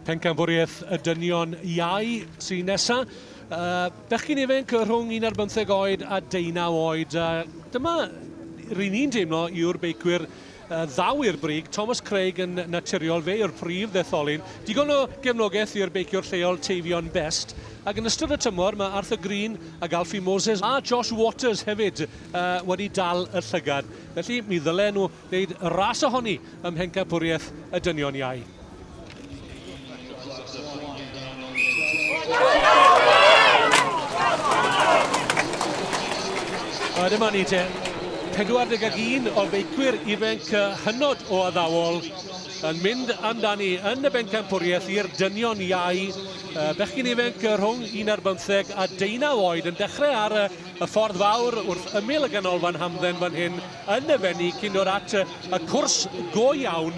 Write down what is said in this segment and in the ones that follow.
Pencampwriaeth y Dynion Iau sy'n nesaf. Uh, bechgyn ifanc rhwng un ar bymtheg oed a deunaw oed. Uh, dyma rydyn ni'n deimlo yw'r beicwyr uh, ddaw i'r brig. Thomas Craig yn naturiol, fe yw'r prif ddetholyn. Digon o gefnogaeth i'r beiciwr lleol Teifion Best. Ac yn ystod y tymor mae Arthur Green ac Alfie Moses a Josh Waters hefyd uh, wedi dal y llygad. Felly mi ddylen nhw wneud ras ohoni ym mhencampwriaeth y dynion iau. A dyma ni te, 41 o feicwyr ifanc hynod o addawol yn mynd amdani yn y bencampwriaeth i'r dynion iau. Bechgyn ifanc rhwng un ar bymtheg a deunaw oed yn dechrau ar y ffordd fawr wrth ymyl y ganolfan hamdden fan hyn. yn y fenni cyn dod at y cwrs go iawn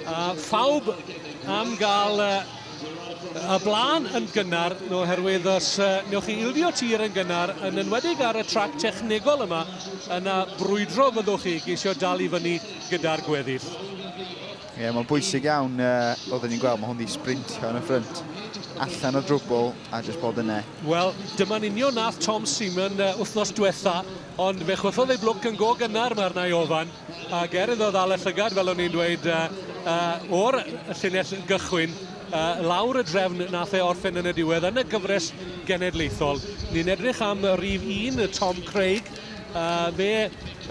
a phawb am gael y blaen yn gynnar oherwydd os newch chi ildio tir yn gynnar yn enwedig ar y trac technegol yma yna brwydro fyddwch chi geisio dal i fyny gyda'r gweddill. Ie, yeah, mae'n bwysig iawn uh, oedd ni'n gweld, mae hwn wedi sprintio yn y ffrynt allan o drwbl a jyst bod yna. Wel, dyma'n union nath Tom Seaman uh, wythnos diwetha Ond fe chwythodd ei blwc yn go gynnar, mae'r nai ofan, ac er iddo ddal y llygad, fel o'n i'n dweud, uh, uh, o'r llinell gychwyn, uh, lawr y drefn nath e orffen yn y diwedd yn y gyfres genedlaethol. Ni'n edrych am rif un, Tom Craig, uh, fe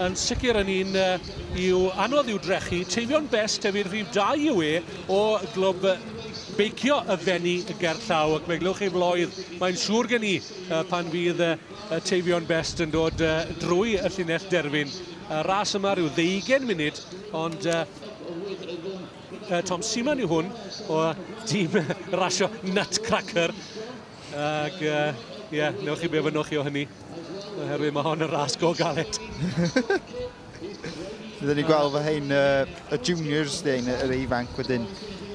yn sicr yn un uh, i'w anodd i'w drechu. Teifion Best ef i'r rhif 2 yw e o glwb beicio y fenni gerllaw ac fe glywch chi floedd mae'n siŵr gen i uh, pan fydd uh, Y Teifion Best yn dod uh, drwy y llinell derfyn. Y ras yma rhyw ddeugen munud, ond uh, uh, Tom Seaman yw hwn o dîm rasio Nutcracker. Ac, ie, uh, yeah, newch chi be fynnwch chi o hynny, oherwydd mae hon yn ras go galed. Rydyn ni'n gweld fy hyn y, y juniors dyn, yr ifanc wedyn.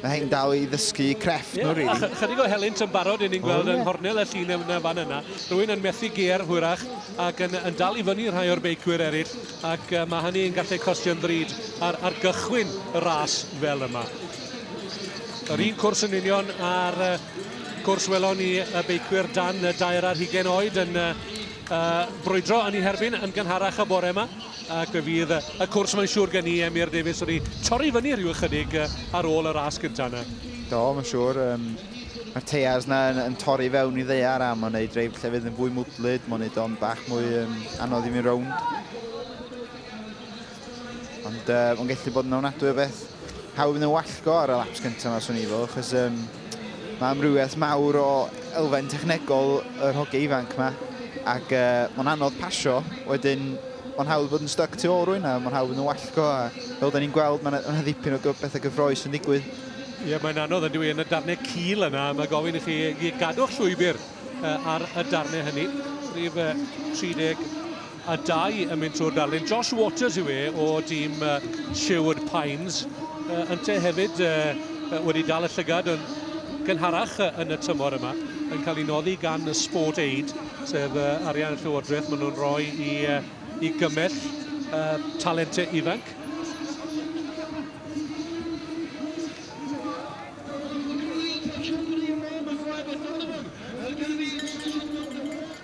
Mae hyn dal i ddysgu crefft yeah. nhw, rili. Really. Chydig o helynt yn barod yn ni'n gweld oh, yeah. yn hornel y llun yn y fan yna. Rwy'n yn methu gear hwyrach ac yn, yn dal i fyny rhai o'r beicwyr eraill ac uh, mae hynny yn gallu costio'n ddrud ar, ar gychwyn y ras fel yma. Yr un cwrs yn union ar uh, cwrs welon ni y beicwyr dan y dair ar hugen oed yn uh, uh, brwydro yn ei herbyn yn gynharach y bore yma ac fe fydd y cwrs mae'n siŵr gen i Emir Davies wedi torri fyny rhyw ychydig ar ôl y ras gyntaf yna. Do, mae'n siŵr. Um, Mae'r teiars yna yn, yn torri fewn i ddeiar a mae'n ei dreif llefydd yn fwy mwdlyd, mae'n ei o'n bach mwy um, anodd i fi'n rownd. Ond uh, o'n gallu bod yn ofnadwy o beth hawdd yn y wallgo ar y laps cyntaf yma, swn i fo, achos um, mae amrywiaeth mawr o elfen technegol yr hoge ifanc yma, ac uh, mae'n anodd pasio, wedyn mae'n hawdd bod yn stuck tu ôl rwy'n a mae'n hawdd yn y wallgo, a fel da ni'n gweld, mae'n yna ddipyn o bethau gyffroes yn digwydd. Ie, yeah, mae'n anodd yn dwi yn y darnau cil yna, mae gofyn i chi gadw'ch llwybr uh, ar y darnau hynny, rhif uh, 30 a dau yn mynd trwy'r darlun. Josh Waters yw e o dîm uh, Sherwood Pines. Uh, Ynte hefyd uh, wedi dal y llygad yn gynharach yn y tymor yma, yn cael ei noddi gan y Sport Aid, sef uh, arian y Llywodraeth maen nhw'n rhoi i, uh, i gymell uh, talentau ifanc.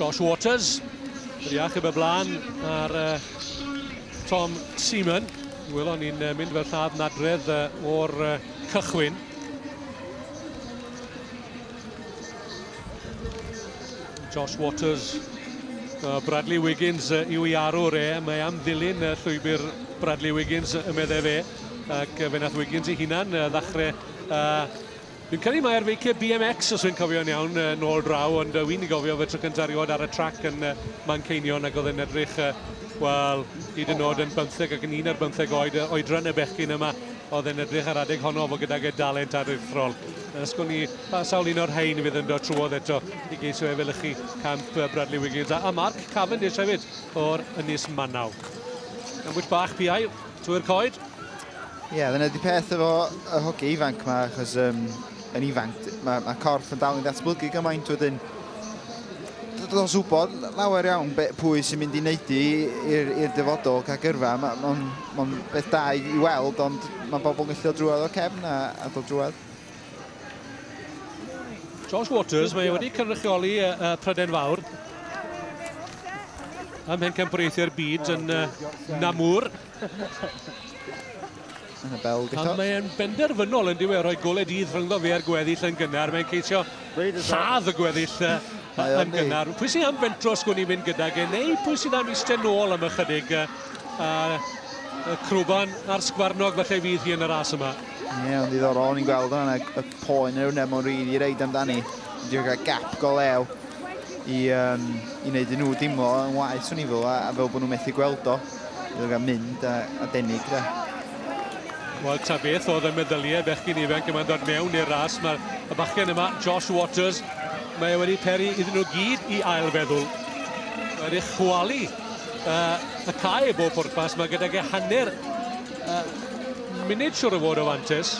Josh Waters, yr iachub y blaen ar uh, Tom Seaman. Welon ni'n uh, mynd fel lladd nadredd uh, o'r uh, cychwyn. Josh Waters, uh, Bradley Wiggins uh, yw i arwr e. Mae am ddilyn uh, llwybr Bradley Wiggins y meddai fe. Ac uh, fe nath Wiggins ei hunan uh, ddachrau uh, Dwi'n credu mae'r feiciau BMX, os wy'n cofio'n iawn, uh, nôl draw, ond uh, wy'n i gofio fe tro cyntaf rioed ar y trac yn uh, Manceinion ac oedd yn edrych, uh, wel, hyd yn oed yn bymtheg ac yn un ar bymtheg oed, uh, oedran y bechgyn yma, oedd yn edrych ar adeg honno fo gydag y dalent aruthrol. Os gwn i pa sawl un o'r rhain fydd yn dod trwodd eto i geisio efelychu camp Bradley Wiggins a, a Mark Cavendish hefyd o'r Ynys Manaw. Gambwys bach piau trwy'r coed. Ie, yeah, dyna di peth efo y hogi ifanc yma, achos um, yn ifanc, mae ma corff yn dal i ddatblygu gymaint wedyn. Does wybod lawer iawn be, pwy sy'n mynd i wneud i i'r dyfodol cael gyrfa. Mae'n ma Mae'n beth da i, i weld, ond mae bobl yn gallu o drwad o cefn a, a dod drwad. Josh Waters, mae wedi cynrychioli y, y Pryden Fawr ym mhencampwriaethau'r byd yn uh, Namur. Yn y bel, A mae'n benderfynol yn diwedd rhoi gole dydd rhyngddo fe a'r gweddill yn gynnar. Mae'n ceisio lladd y gweddill uh, yn gynnar. Pwy sy'n am fentro sgwn i'n mynd gyda gen, neu pwy sy'n am eistedd nôl am ychydig? Uh, A y crwban a'r sgwarnog felly fydd hi yn y ras yma. Ie, yeah, ddiddorol, o'n i'n gweld o'n y, y poen yn ewneud mo'n rili reid amdani. Dwi'n cael gap go lew i, um, i wneud i nhw dimlo yn waith swn i fel, a, a fel bod nhw'n methu gweld o. Dwi'n cael mynd a, a denig da. Wel, ta beth oedd y meddyliau bechgyn ifanc yma'n dod mewn i'r ras. Mae'r y bachgen yma, Josh Waters, mae e wedi peri iddyn nhw gyd i ail feddwl. Wedi chwalu uh, y cae bob pwrpas. Mae gydag e hanner uh, munud siwr o fod o fantes.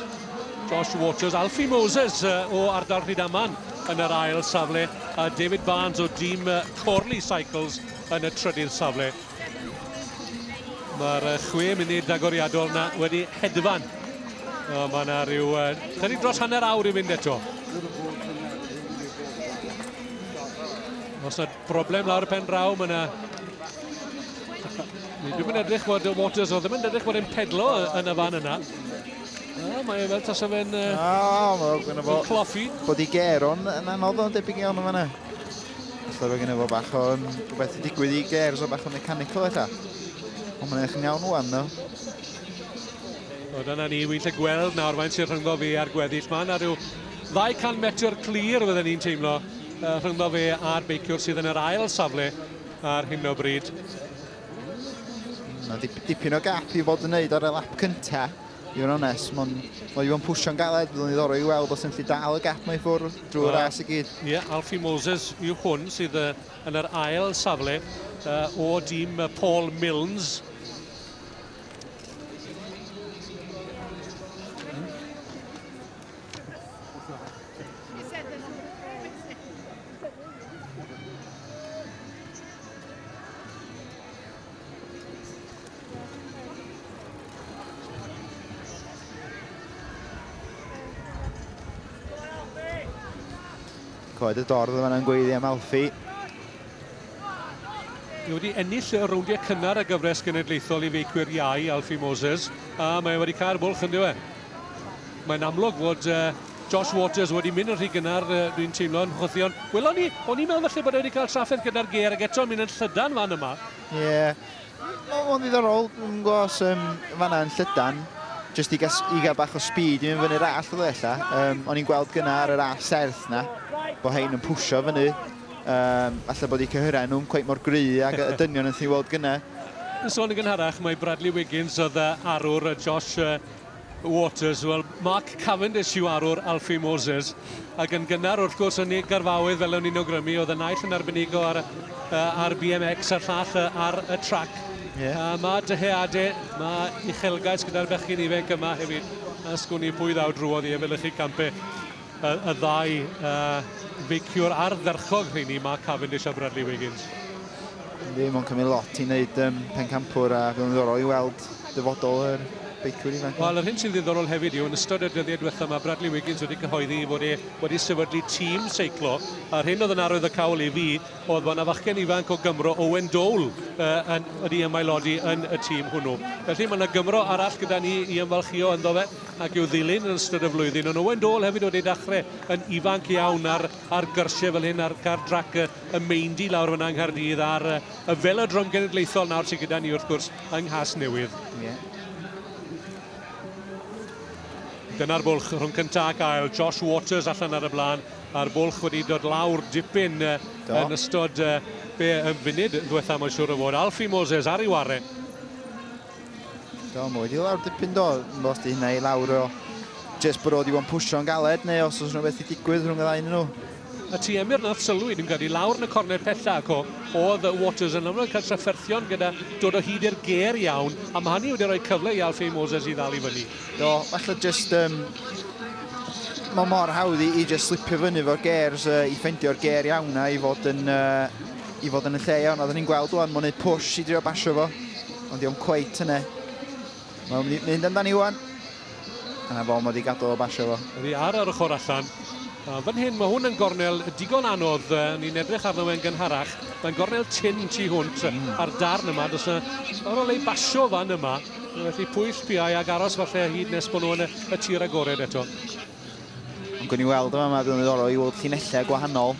Josh Waters, Alfie Moses uh, o ardal Rhydaman yn yr ail safle a David Barnes o dîm uh, Corley Cycles yn y trydydd safle. Mae'r uh, chwe munud agoriadol na wedi hedfan. Uh, mae yna rhyw uh, chydig dros hanner awr i fynd eto. Os na Broblem lawr y pen draw, mae yna... Ni ddim yn edrych bod Waters o ddim yn edrych bod e'n pedlo yn y fan yna. A, mae e fel tas o fe'n... O, mae gen fo... Cloffi. Bod i ger o'n yn anodd o'n debyg iawn o fanna. Alla fe gen fo bach o'n... Rhywbeth i digwydd i ger, so bach o'n mechanical eto. Ond mae'n eich iawn o'n ddo. O, dyna ni, wy'n lle gweld nawr faint sy'n rhyngddo fi a'r gweddill. Mae yna rhyw 200 metr clir, fydden ni'n teimlo, rhyngddo fe a'r beiciwr sydd yn yr ail safle ar hyn o bryd. Mae dip, dipyn o gap i fod yn neud ar y lap cynta, i fod yn onest. Mae'n ma wedi pwysio'n galed, byddwn i ddorau i weld os yn lli dal y gap mae ffwrdd drwy'r uh, ras i gyd. Ie, yeah, Alfie Moses yw hwn sydd uh, yn yr ail safle uh, o dîm Paul Milnes. Coed y dorf yma yn gweiddi am Alfie. Mae wedi ennill y rowndiau cynnar y gyfres genedlaethol i feicwyr iau, Alfie Moses, a mae wedi cael bwlch yn diwe. Mae'n amlwg fod uh, Josh Waters wedi mynd yn rhy gynnar, dwi'n teimlo yn chwythion. Welon ni, o'n i'n meddwl falle bod e wedi cael trafferth gyda'r ger ac eto'n mynd yn llydan fan yma. Ie, yeah. mae'n ddiddorol, dwi'n gwybod os um, fanna yn llydan, jyst i, gas, i gael bach o speed i mynd fyny'r all oedd ella. Um, o'n i'n gweld gyna ar yr all serth na, bod hein yn pwysio fyny. Um, alla bod i cyhyrau nhw'n cweith mor gry ac y dynion yn thi weld gyna. Yn sôn yn gynharach, mae Bradley Wiggins oedd arwr Josh Waters, wel, Mark Cavendish yw arwr Alfie Moses, ac yn gynnar, wrth gwrs, yn ei garfaoedd fel o'n i'n awgrymu, oedd y naill yn arbenigo ar, uh, ar BMX a'r llall uh, ar y trac. Yeah. Uh, mae dyheadau, mae uchelgais gyda'r bechgyn ifanc yma hefyd, a sgwn i pwy ddaw drwodd i efelychu campau. y, y ddau uh, feiciwr ardderchog rheini, Mark Cavendish a Bradley Wiggins. Yndi, mae'n cymryd lot i wneud um, pencampwr a bydd yn ddiddorol i weld dyfodol yr beicwyr ifanc. Wel, yr hyn sy'n ddiddorol hefyd yw, yn ystod y dyddiau diwethaf, mae Bradley Wiggins wedi cyhoeddi fod e wedi sefydlu tîm seiclo. A'r hyn oedd yn arwydd y cawl i fi oedd bod yna fachgen ifanc o Gymro, Owen Dole, uh, yn, wedi ymaelodi yn y tîm hwnnw. Felly mae yna Gymro arall gyda ni i ymfalchio ynddo fe. ac i'w ddilyn yn ystod y flwyddyn. Ond Owain Dôl hefyd wedi dachrau yn ifanc iawn ar, ar gyrsiau fel hyn, ar gar drac y, y Meindy lawr fyna yng Nghaerdydd, ar y, y Felodrom Genedlaethol nawr sydd gyda ni wrth gwrs yng Nghas Newydd. Yeah. Dyna'r bwlch rhwng cyntaf ac ail. Josh Waters allan ar y blaen, a'r bwlch wedi dod lawr dipyn uh, yn ystod uh, be, yn funud yn ddiwetha, mae'n siŵr o fod. Alfie Moses ar ei ware. Do, mae wedi lawr dipyn do, os di hynna i lawr o jyst bod o wedi bod yn pwysio'n galed neu os oes rhywbeth i digwydd rhwng y ddau nhw. A ti Emyr nath sylwi, dwi'n credu, lawr yn y cornel pella ac o, oedd Waters yn amlwg yn cael trafferthion gyda dod o hyd i'r ger iawn, a mae hynny wedi rhoi cyfle i Alfie Moses i ddal i fyny. Do, falle just, um, mae mor hawdd i, i just slipio fyny fo'r gers, uh, i ffendio'r ger iawn na i fod yn uh, i fod yn y lle iawn. Oedden ni'n gweld o'n mwyn neud push i drio basio fo, ond diolch cweit yna. Mae'n mynd i mynd amdani Iwan. A na fo mod i gadw o basio fo. Ydy ar yr ochr allan. A fan hyn, mae hwn yn gornel digon anodd. Ni'n edrych arno fe'n gynharach. Mae'n gornel tin tu hwnt mm. ar darn yma. Does yna ar ôl ei basio fan yma. Felly pwyll piau ag aros falle hyd nes bod nhw yn y, y tir agored eto. Ond gwni weld yma, mae bydd yn ddorol i weld llinellau gwahanol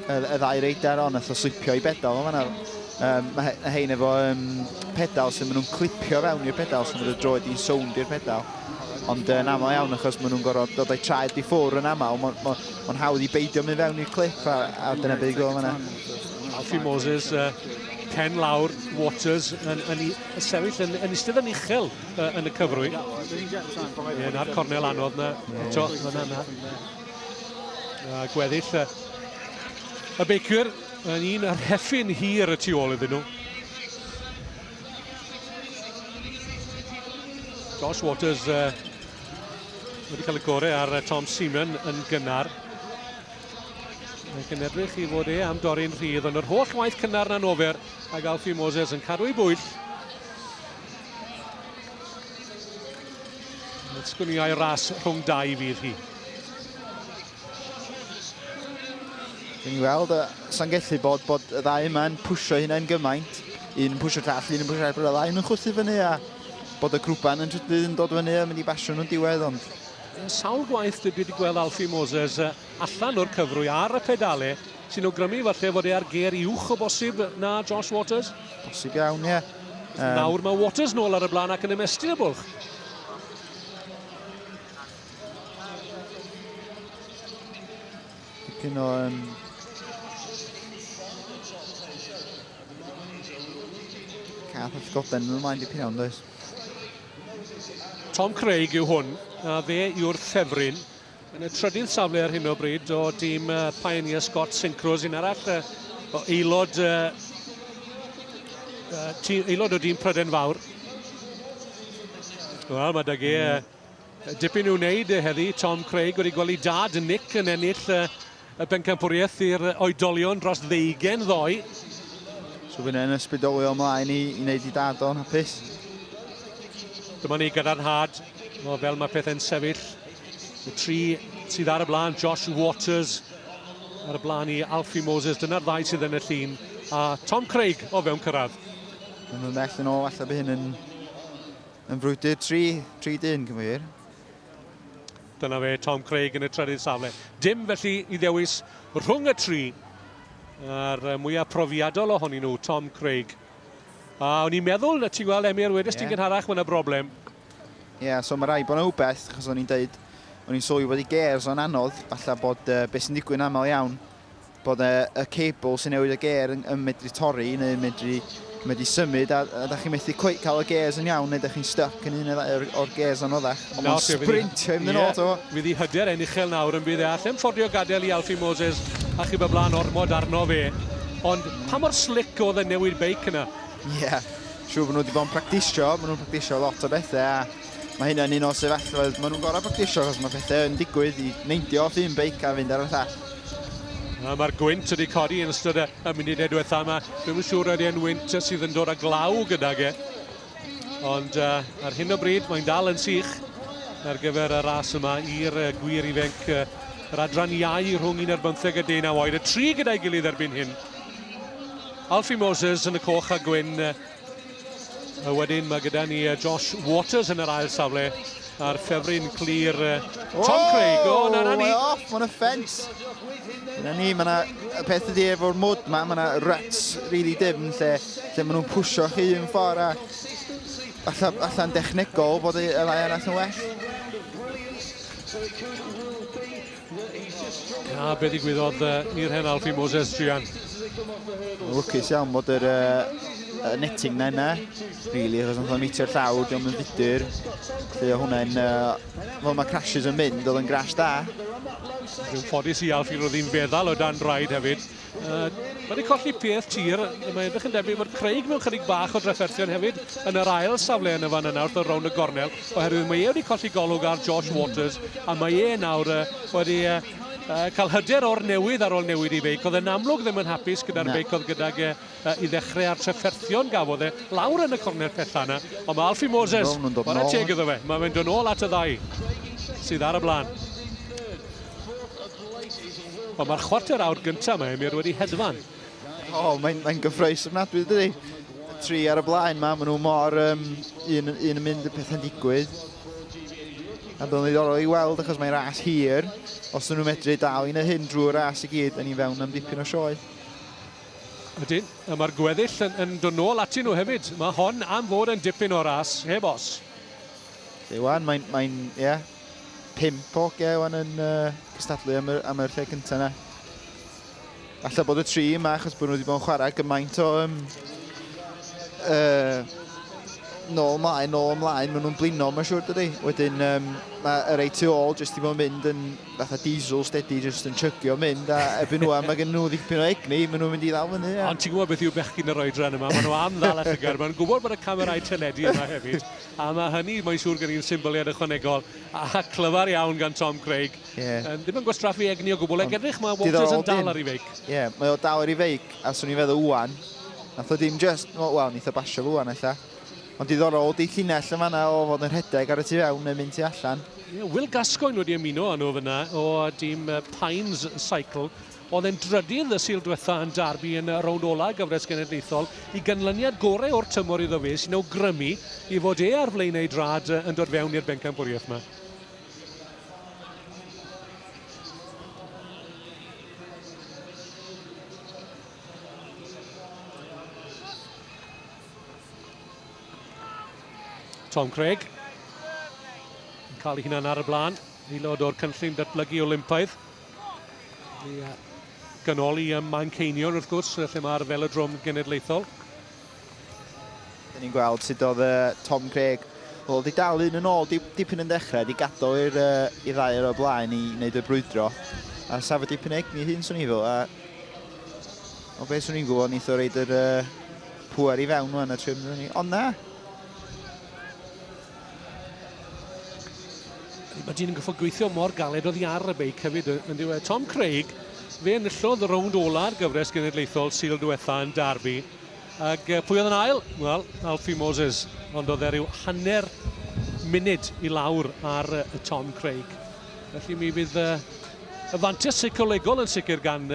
y, y ddau reidar ond eithaf slipio i bedal yma nawr. Um, mae hein efo um, pedal sy'n maen nhw'n clipio fewn i'r pedal sy'n mynd y droed i'n sownd i'r pedal ond yn uh, aml iawn achos maen nhw'n gorfod dod o'i traed i ffwr yn aml mae'n ma, ma hawdd i beidio mynd fewn i'r clip a, a dyna beth i gweld yna Alfie Moses uh, pen lawr Waters yn, yn, yn sefyll yn, yn eistedd yn uchel uh, yn y cyfrwy. Ie, na'r cornel anodd na. Eto, yna, yna. Uh, gweddill uh, y beicwyr yn un ar heffin hir y tu ôl iddyn nhw. Josh Waters uh, wedi cael y gorau ar uh, Tom Seaman yn gynnar. Mae'n gynebrych i fod e am dorri'n rhydd, ond yr holl waith cynnar na'n ofer, a Galfi Moses yn cadw ei bwyll Mae'n sgwniau ras rhwng dau fydd hi. Dyn ni weld, y sa'n gellu bod bod y ddau yma'n pwysio hynna'n gymaint. Un yn pwysio llall, un yn pwysio llall, bod y ddau yn chwythu fyny a bod y grwpan yn trydydd yn dod fyny a mynd i basio nhw'n diwedd, ond... Yn sawl gwaith dwi wedi gweld Alfie Moses allan o'r cyfrwy ar y pedale sy'n awgrymu falle fod e ar ger uwch o bosib na Josh Waters. Bosib iawn, ie. Um... Nawr mae Waters nôl ar y blaen ac yn ymestyn y bwlch. Dipyn o um, cath at goben yn ymlaen dipyn iawn, does? Tom Craig yw hwn, a fe yw'r ffefryn Yn y trydydd safle ar hyn o bryd o dîm Pioneer Scott Synchros, un arall uh, o aelod, uh, uh, aelod o dîm Pryden Fawr. Wel, mae dage mm. uh, dipyn i'w wneud heddi. Tom Craig wedi gweld ei dad, Nick, yn ennill uh, Y bencampwriaeth i'r oedolion dros ddeugain ddoe. So fi'n yn ysbrydolio ymlaen i, i wneud i dad o'n hapus. Dyma ni gadarnhad o fel mae pethau'n sefyll. Y tri sydd ar y blaen, Josh Waters ar y blaen i Alfie Moses. Dyna'r ddau sydd yn y llun. A Tom Craig o fewn cyrraedd. Yn y mell yn ôl, allai by hyn yn, yn frwydr 3, 3 dyn, cyfeir. Dyna fe, Tom Craig yn y trydydd safle. Dim felly i ddewis rhwng y tri. A'r mwyaf profiadol ohonyn nhw, Tom Craig. A o'n i'n meddwl, na ti'n gweld Emyr, wedys yeah. ti'n gynharach, mae'n y broblem. Ie, yeah, so mae rai bod yna wbeth, achos o'n i'n dweud, o'n i'n sylwi bod i gers o'n anodd, falle bod uh, beth sy'n digwydd yn aml iawn, bod e, y cable sy'n newid y gêr yn, yn medru torri neu yn medru, medru symud a, a da chi'n methu cweit cael y gêrs yn iawn neu da chi'n stuck yn un o'r, or gêrs anoddach. Ond mae'n sprintio i'n ddyn oto. Fydd i hyder e'n uchel nawr yn bydd e allem ffordio gadael i Alfie Moses a chyb y blaen ormod arno fe. Ond pa mor slick oedd y newid beic yna? Ie, yeah. siw bod nhw wedi bod yn practisio, maen nhw'n practisio lot o bethau a mae hyn yn un o sefyllfod maen nhw'n gorau practisio achos mae pethau yn digwydd i neindio off un beic a fynd ar y llall. Mae'r gwynt wedi codi yn ystod y munud edwetha yma. Dwi'n siŵr oedd e'n wynt sydd yn dod â glaw gydag e. Ond uh, ar hyn o bryd mae'n dal yn sych ar gyfer y ras yma i'r gwir ifanc uh, yr adran iau rhwng un ar bymtheg a dyn a oed. Y tri gyda'i gilydd erbyn hyn. Alfie Moses yn y coch a gwyn uh, A wedyn mae gyda ni uh, Josh Waters yn yr ail safle a'r ffefryn clir uh, Tom oh, Craig. O, oh, na, na ni. off, mae'n offens. Na ni, mae yna y peth ydi efo'r mwd ma, mae yna ruts really dim lle, lle maen nhw'n pwysio chi un ffordd a allan, allan dechnegol bod y lai yn allan well. A be ddigwyddodd uh, i'r hen Alfie Moses, Gian? Lwcus iawn bod yr uh, netting na yna, really, achos nath o'n meitio'r llawr, diolch yn fudr. Felly o hwnna'n, uh, fel mae crashes yn mynd, oedd yn grash da. Dwi'n ffodus i Alfie roedd hi'n feddal o dan draed hefyd, Uh, mae wedi colli peth tir, mae edrych yn debyg bod Craig mewn chydig bach o drafferthion hefyd yn yr ail safle yn y fan yna wrth y rownd y gornel, oherwydd mae e wedi colli golwg ar Josh Waters, a mae e nawr uh, wedi uh, uh, cael hyder o'r newydd ar ôl newid i feic. Oedd e'n amlwg ddim yn hapus gyda'r feic oedd gydag uh, uh, i ddechrau a'r trefferthion gafodd e lawr yn y cornel pethau yna. Ond mae Alfie Moses, mae'n y teg iddo fe, mae'n mynd yn ôl at y ddau sydd ar y blaen. Ond mae'r chwarter awr gyntaf mae Emyr wedi hedfan. O, oh, mae'n mae gyffroes ofnadwy, dydy. Tri ar y blaen mae, maen nhw mor um, un, un yn mynd y pethau'n digwydd. A bydd o'n ddiddorol i weld achos mae'n ras hir. Os nhw'n medru dal i wneud hyn drwy'r ras i gyd, yn ni fewn am dipyn o sioe. Ydyn, a mae'r gweddill yn, yn dod nôl atyn nhw hefyd. Mae hon am fod yn dipyn o ras, heb os. Iwan, mae'n, mae ie, yeah, pimp o ge Iwan yn uh, cystadlu am yr, am yr lle cyntaf yna. Alla bod y tri yma, achos bod nhw wedi bod yn chwarae gymaint o um, uh, nôl ymlaen, nôl ymlaen, maen nhw'n blino, mae'n siŵr dydy. Wedyn, um, mae yr ei tu ôl jyst i fod yn mynd yn fatha diesel steady jyst yn chygio mynd a erbyn rwan mae gen nhw ddipyn o egni, maen nhw'n mynd i ddal fyny. Ond ti'n gwybod beth yw bechgyn yr oedran yma, maen nhw am ddal a llygad, maen nhw'n gwybod bod y camerau teledu yma hefyd, a mae hynny, mae'n siŵr gen i'n symboliad ychwanegol, a clyfar iawn gan Tom Craig, yeah. um, ddim yn gwastraffu egni o gwbl, ac edrych mae Walters yn dal ar ei feic. Ie, yeah, mae o dal ar ei feic, a swn i'n feddwl wwan, nath o ddim just, wel, nath o basio fo wwan, efallai. Ond diddorol ydy llinell yn fanna o fod yn rhedeg ar y tu fewn neu'n mynd tu allan. Ie, Will Gascoigne wedi ymuno â nhw fyna o dîm Pines Cycle. Oedd e'n drydydd y Sul diwetha yn Derby yn y rownd ola gyfres genedlaethol. I ganlyniad gorau o'r tymor iddo fe sy'n awgrymu i fod e ar flaenau ei drad yn dod fewn i'r bencampwriaeth yma. Tom Craig yn cael ei hunan ar y blaen, aelod o'r cynllun datblygu Olympaidd. I uh, ganoli ym Manceinion, wrth gwrs, lle mae'r felodrom genedlaethol. Dyn ni'n gweld sut oedd uh, Tom Craig Wel, di dal un yn ôl di, dipyn yn dechrau, di gadael i'r uh, i ddau o'r blaen i wneud y brwydro. A safod dipyn egni hyn, swn i fel, a... O beth swn i'n gwybod, neitho reid yr uh, Pŵer i fewn nhw yn y trim nhw ni. Ond na! Mae dyn yn gyffog gweithio mor galed oedd i ar y beic hefyd yn diwedd. Tom Craig, fe enillodd y rownd ola'r gyfres genedlaethol syl diwetha yn Darby. Ac pwy oedd yn ail? Wel, Alfie Moses. Ond oedd e rhyw hanner munud i lawr ar Tom Craig. Felly mi fydd y fantes seicolegol yn sicr gan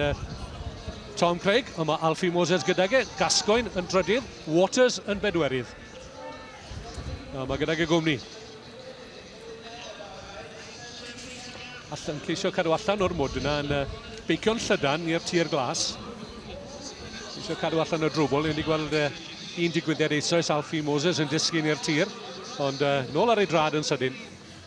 Tom Craig. Ond mae Alfie Moses gydag e. Gascoigne yn drydydd, Waters yn bedwerydd. A mae gydag y gwmni. Allan ceisio cadw allan o'r mwd yna yn beicio'n llydan i'r tir glas. Ceisio cadw allan o drwbl. Ni'n wedi gweld un digwyddiad eisoes Alfie Moses yn disgyn i'r tir. Ond nôl ar ei drad yn sydyn.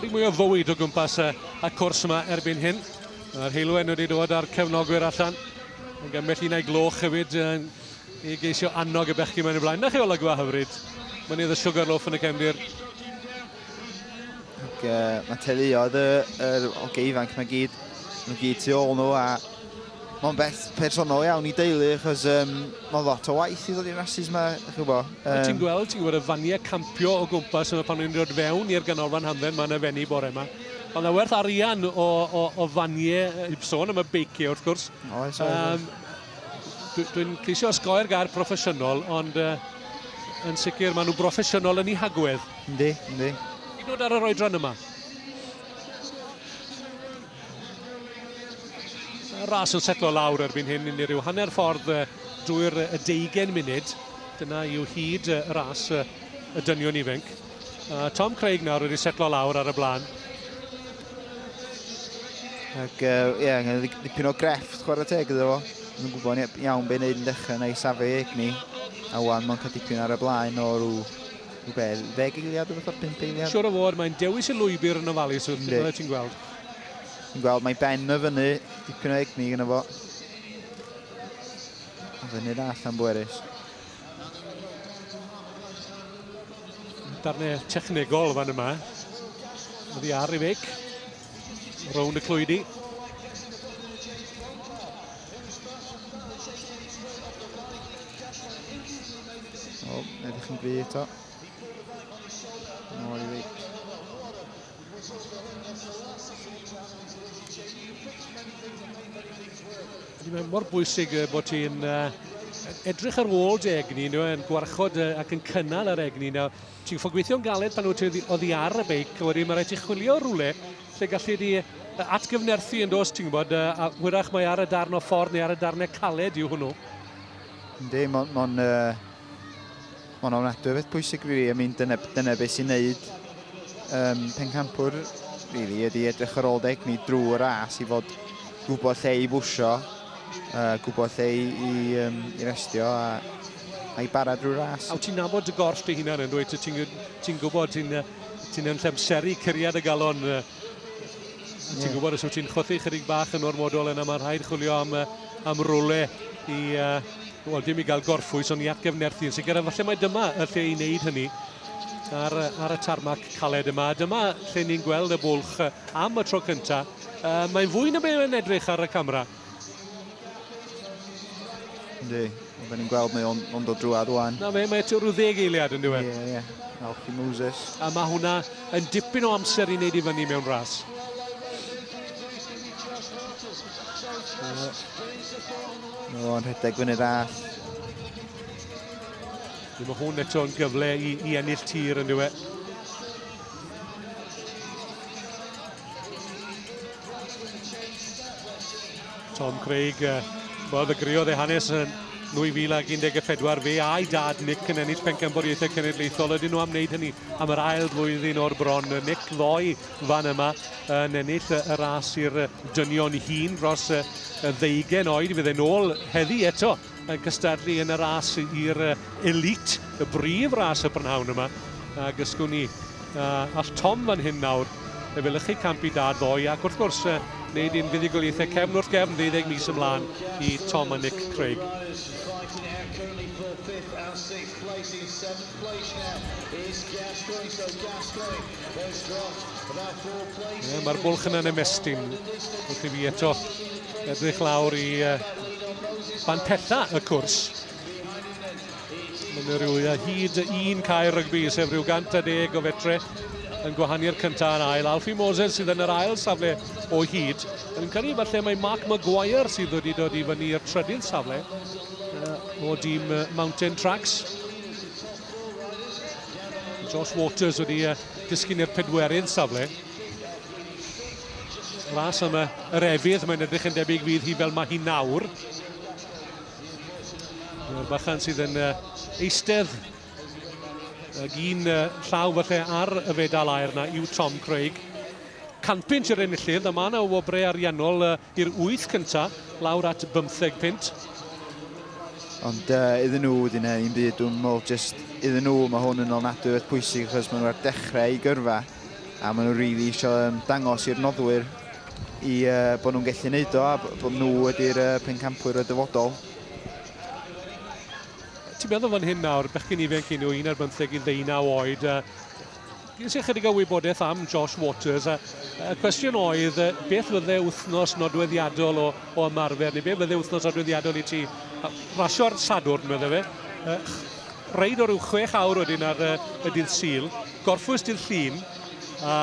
Chydig mwy o fywyd o gwmpas y, y cwrs yma erbyn hyn. Mae'r heilwen wedi dod a'r cefnogwyr allan. Yn gymell un a'i gloch hefyd yn, i geisio annog y bechgyn mae'n y blaen. Na chi olygfa hyfryd. Mynydd y Sugarloaf yn y cefndir. Ac, uh, mae teuluoedd y, y, o geifanc mae gyd, mae gyd tu ôl nhw a Mae'n beth personol iawn i deulu, achos um, mae'n lot o waith i ddod i'r rhasys yma, chi'n gwybod. Um... Ti'n gweld, ti'n gwybod y faniau campio o gwmpas yma pan o'n i'n dod fewn i'r ganolfan hamdden, mae yna fenni bore yma. Ond na werth arian o, o, o faniau, i sôn am y beiciau wrth gwrs. O, oes, oes. Um, Dwi'n ceisio osgoi'r gair proffesiynol, ond uh, yn sicr maen nhw'n broffesiynol yn ei hagwedd. Yndi, yndi. Ti'n dod ar yr oedran yma? Ras yn setlo lawr erbyn hyn yn rhyw hanner ffordd drwy'r deugen munud. Dyna yw hyd y ras y dynion ifanc. Tom Craig nawr wedi setlo lawr ar y blaen. Ac ie, uh, yeah, angen ddipyn o grefft chwarae teg iddo fo. Yn gwybod iawn be'n neud yn dechrau na i safio i egni. A wan mae'n cael dipyn ar y blaen o rhyw Rhywbeth, ddeg eiliad rhywbeth o'r pimp eiliad? Siwr o fod, mae'n dewis y lwybr yn ofalus wrth fel ti'n gweld. Ti'n gweld, mae Ben y fyny, dipyn o egni gyda fo. Fyny da allan bwerus. Darnau technegol fan yma. Oddi ar ei feic. Rownd y clwydi. O, edrych yn gry eto. Nôl i Rick. Mae mor bwysig bod ti'n uh, edrych ar ôl dy egni, nhw, yn gwarchod ac yn cynnal ar egni. Nawr, Ti'n gorfod gweithio'n galed pan wyt ti oddi ar y beic, a wedyn mae rhaid ti chwilio rhywle lle galli di atgyfnerthu yn dos, ti'n gwybod, a hwyrach mae ar y darn o ffordd neu ar y darnau caled yw hwnnw. Yndi, mae'n ma uh, ma ofnadwy o beth pwysig, really. I mean, dyna, dyna beth sy'n neud um, pencampwr, really, ydy edrych ar ôl deg ni drwy'r ras i fod gwybod lle i bwysio, uh, gwybod lle i, i, um, i restio a A i bara drwy ras. A wyt ti'n nabod dy gorff dy hunan yn dweud ti'n ti gwybod ti'n ti yn llemseru curiad y galon. Ti'n yeah. gwybod os wyt ti'n chwythu chydig bach yn ormodol yna mae rhaid chwilio am, am rwle i, uh, wel dim i gael gorffwys ond i atgefnerthu yn sicr. A falle mae dyma y lle i wneud hynny ar, ar y tarmac caled yma. Dyma lle ni'n gweld y bwlch am y tro cyntaf. Uh, mae'n fwy na be yn edrych ar y camera. Ynddi, ond ni'n gweld mae o'n on dod drwad o'n. Na fe, mae eto rhyw ddeg eiliad yn diwedd. Ie, ie. Alfie Moses. A mae hwnna yn dipyn o amser i wneud i fyny mewn ras. Mae o'n rhedeg fyny dda. Mae hwn eto yn gyfle i, i ennill tir yn diwedd. Tom Craig, uh, wel, ddegriodd ei hanes yn 2014, fe a'i dad Nick yn ennill pencampwriaethau cenedlaethol. Ydyn nhw am wneud hynny am yr ail flwyddyn o'r bron. Nick ddoe fan yma yn ennill y ras i'r dynion hun dros y ddeugen oed. Fydde'n ôl heddi eto yn cystadlu yn y ras i'r elite, y brif ras y brynhawn yma. A gysgwn ni uh, all Tom fan hyn nawr efelychu campi da ddoe ac wrth gwrs uh, wneud i'n fuddugoliaethau cefn wrth gefn 12 mis ymlaen i Tom a Nick Craig. Gascoigne, so Gascoigne Ie, mae'r bwlch yna'n ymestyn wrth i fi eto edrych lawr i uh, bantella y cwrs. Mae'n rhyw hyd un cae rygbi, sef rhyw 110 o fetre yn gwahani'r cyntaf yn ail. Alfie Moses sydd yn yr ail safle o hyd. Yn cael ei falle mae Mark Maguire sydd wedi dod i fyny i'r trydydd safle o dîm Mountain Tracks. Josh Waters wedi uh, disgyn i'r pedwerydd safle. Ras am uh, yr efydd, mae'n edrych yn debyg fydd hi fel mae hi nawr. Mae'r bachan sydd yn uh, eistedd ag un uh, llaw falle ar y fedal aer na yw Tom Craig. Canpint yr enillydd, a mae yna o wobrau ariannol uh, i'r wyth cyntaf, lawr at bymtheg punt. Ond uh, iddyn nhw, wedi neu un byd, dwi'n meddwl jyst iddyn nhw, mae hwn yn olnadwy oedd pwysig achos maen nhw ar dechrau i gyrfa a maen nhw rili really eisiau um, dangos i'r noddwyr i uh, bod nhw'n gallu neud o a bod nhw wedi'r uh, pencampwyr y dyfodol. Ti'n meddwl fan hyn nawr, bechgyn ifanc i nhw, un ar bymtheg i ddeunaw oed, uh, Ges i ychydig o wybodaeth am Josh Waters a y cwestiwn oedd beth fydde wythnos nodweddiadol o, o ymarfer neu beth fydde wythnos nodweddiadol i ti? Rasio ar Sadwrn, medde fe. Reid o ryw chwech awr wedyn ar y dydd Sul, gorffwys dydd Llun, a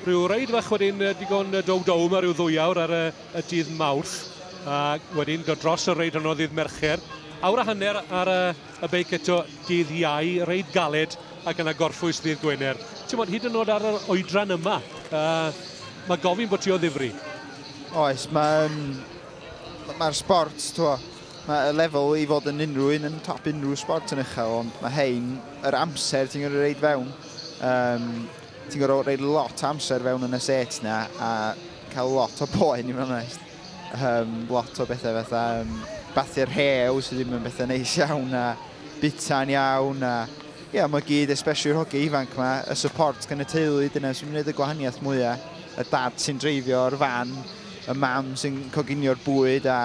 rhyw reid fach wedyn digon dow dow mae rhyw ddwy awr ar y, y dydd Mawrth, a wedyn dod dros y reid honno ddydd Mercher, awr a hanner ar y Y beic eto dydd Iau, reit galed ac yna gorffwys ddydd Gwener. Ti'n bod hyd yn oed ar yr oedran yma, uh, mae gofyn bod ti o ddifri. Oes, mae'n... Mae'r sport, twa, mae y lefel i fod yn unrhyw un yn top unrhyw sport yn uchel, ond mae hein, yr amser ti'n gorau reid fewn, um, ti'n gorau reid lot amser fewn yn y set na, a cael lot o poen i fod yn Yym lot o bethe fatha yym bathu'r rhew sy ddim yn bethe neis iawn a bita'n iawn a ia ma' gyd especially yr hogie ifanc 'ma y support gan y teulu dyna sy'n neud y gwahaniath mwya. Y dad sy'n dreifio'r fan, y mam sy'n coginio'r bwyd a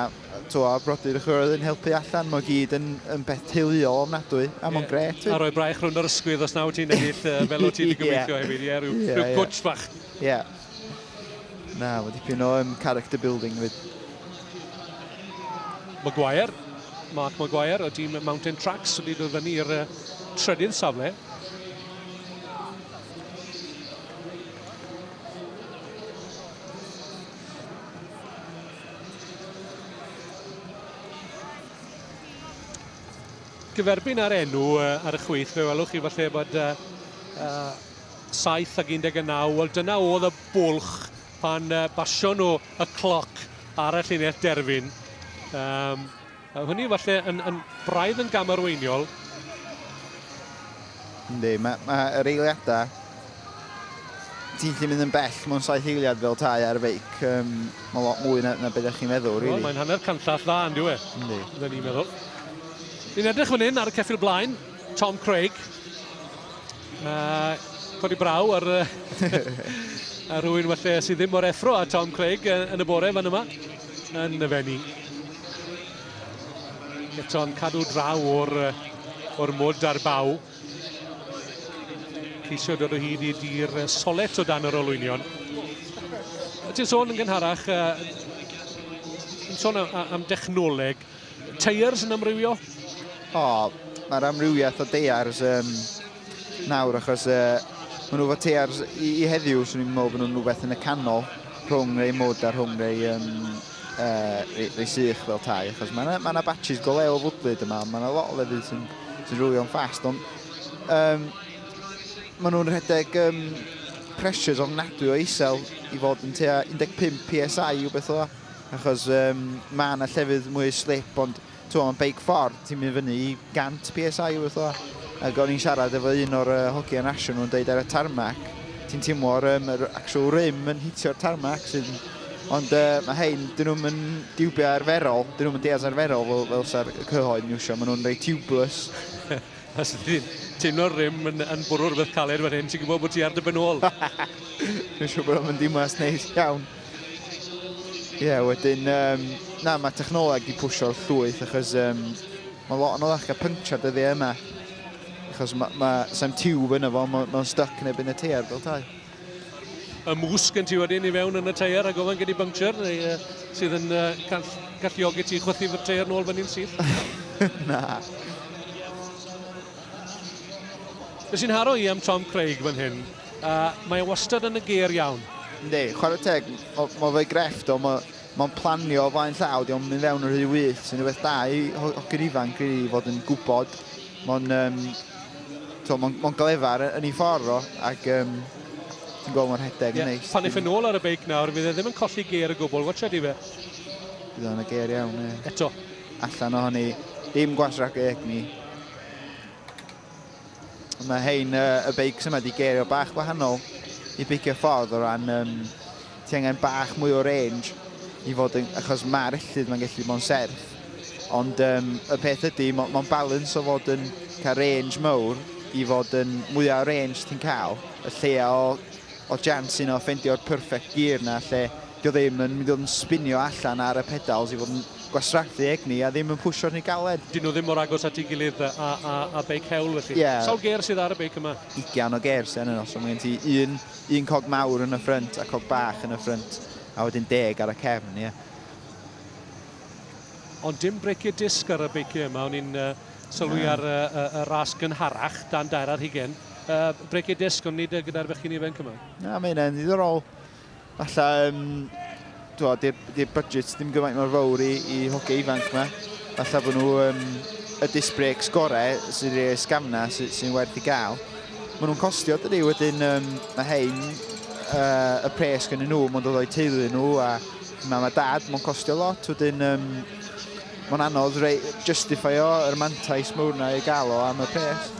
t'wo' brodyr a chwiorydd yn helpu allan ma' gyd yn yn beth teuluol ofnadwy a ma'n grêt. Ie a rhoi braich rhwng yr ysgwydd os na wyt ti'n ennill yy fel o't ti 'di gobeithio hefyd ie ryw ryw gwtsh fach. Ie. Na, mae dipyn o um, character building fyd. Maguire, Mark Maguire o dîm Mountain Tracks wedi dod fyny i'r uh, trydydd safle. gyferbyn ar enw uh, ar y chwith, fe welwch chi falle bod uh, uh, 7 ag 19, wel dyna oedd y bwlch pan uh, basio nhw y cloc ar y llinell derfyn. Um, hynny falle yn, yn braidd yn gamarweiniol. Ynddi, mae ma yr eiliadau ti'n gallu mynd yn bell mewn saith eiliad fel tai ar feic. Um, mae lot mwy na, na beth ydych chi'n meddwl, rili. Really. Mae'n hanner canllall dda, yn diwy. E? Ynddi. Ynddi, ni'n meddwl. Ni'n edrych fan hyn ar y ceffil blaen, Tom Craig. A codi braw ar, ar rhywun falle sydd ddim mor effro a Tom Craig yn y bore fan yma yn y fenni. Eto'n cadw draw o'r, or mwd ar baw. Ceisio dod o hyd i dir solet o dan yr olwynion. Ti'n sôn yn gynharach, yn sôn am, am dechnoleg, Teiars yn amrywio? O, mae'r amrywiaeth o deiars yn nawr achos uh, maen nhw fod teiars i, i heddiw, swn i'n meddwl bod nhw'n rhywbeth yn y canol rhwng rei mwd a rhwng rei um, uh, rei, rei sych fel tai, achos mae yna ma, na, batches go lew o fwdlyd yma, mae yna lot o lefydd sy'n sy rwylio'n ffast, ond um, maen nhw'n rhedeg um, pressures ofnadwy o isel i fod yn tua 15 PSI i'w beth o dda. Achos yym ma' 'na llefydd mwy slip ond t'mo' ma'n beic ffordd ti'n mynd fyny i 100 PSI rwbeth fela. Ag o'n i'n siarad efo un o'r yy hogia rasio nhw'n deud ar y tarmac ti'n timlo'r yym yr actual rim yn hitio'r tarmac sydd yn... Ond yy ma' rhein 'dyn nhw'm yn diwbio arferol 'dyn nhw'm yn deall arferol fel fel sa'r y cyhoedd yn iwsio ma' nhw'n reit tiwbless. Os ti'n teimlo'r rim yn yn bwrw rwbeth caled fan hyn ti'n gwbod bo' ti ar dy ben ôl. Dwi'n siŵr bod o'n mynd i mas neis iawn. Ie, yeah, wedyn, um, na, mae technoleg wedi pwysio'r llwyth, achos um, mae lot yn oddach gael pynciau dyddiau yma. Achos mae, ma, sam tiwb yna fo, mae'n ma stuck neb yn y teir fel tai. Y mwsg yn ti wedyn i fewn yn y teir a gofyn gyda buncture, neu, uh, sydd yn uh, call, galluogi ti chwythu fy teir nôl fyny'n syth? na. Nes i'n haro i am Tom Craig fan hyn, Uh, mae e wastad yn y geir iawn. Ynddi, chwarae teg, mae fe grefft o, mae'n planio o flaen llaw, diolch yn mynd fewn yr rhy wyth, sy'n rhywbeth da i hogi'r ifanc i fod yn gwybod. Mae'n um, mae'n ma glefar yn ei ffordd o, ac um, ti'n gweld mae'n rhedeg yn neis. Pan eich yn ôl ar y beic nawr, fydd e ddim yn colli geir y gwbl, watcha di fe. Bydd o'n y geir iawn, ie. Eto. Allan o hynny, dim gwasrac egni. Mae hein, y beics yma, wedi gerio bach gwahanol i beicio ffordd o ran um, ti angen bach mwy o range i fod yn, achos mae'r ellid mae'n gallu bod yn serth. Ond um, y peth ydy, mae'n ma balans o fod yn cael range mawr i fod yn mwyaf o range ti'n cael, y lleia o Odd Jans yno ffendio'r perfect gear na lle 'di o ddim yn mynd i fod yn spinio allan ar y pedals i fod yn gwastraffu egni a ddim yn pwsio rhy galed. Dyn nhw ddim mor agos at ei gilydd a a a beic hewl felly. Ie. Sawl gêr sydd ar y beic yma? Ugian o gêr sy arnyn nhw so ma' gen ti un un cog mawr yn y ffrynt a cog bach yn y ffrynt a wedyn deg ar y cefn ie. Ond dim breicie disc ar y beiciau yma o'n i'n yy sylwi ar yy yy y ras gynharach dan daear ar hugen. uh, break your disc, ond nid e gyda'r fechgyn ifanc yma. Na, mae hynna'n ddiddorol. Alla, um, dwa, di'r budget ddim gymaint mor fawr i, i hoge ifanc yma. Alla bod nhw um, y disc breaks gorau sy'n rhoi sgamna sy'n sy werth i gael. Mae nhw'n costio dydy, wedyn um, mae hein uh, y pres gen nhw, mae'n dod o'i teulu nhw a mam a dad, mae'n costio lot, wedyn um, Mae'n anodd rei, justifio yr mantais mawr na i gael o am y pres.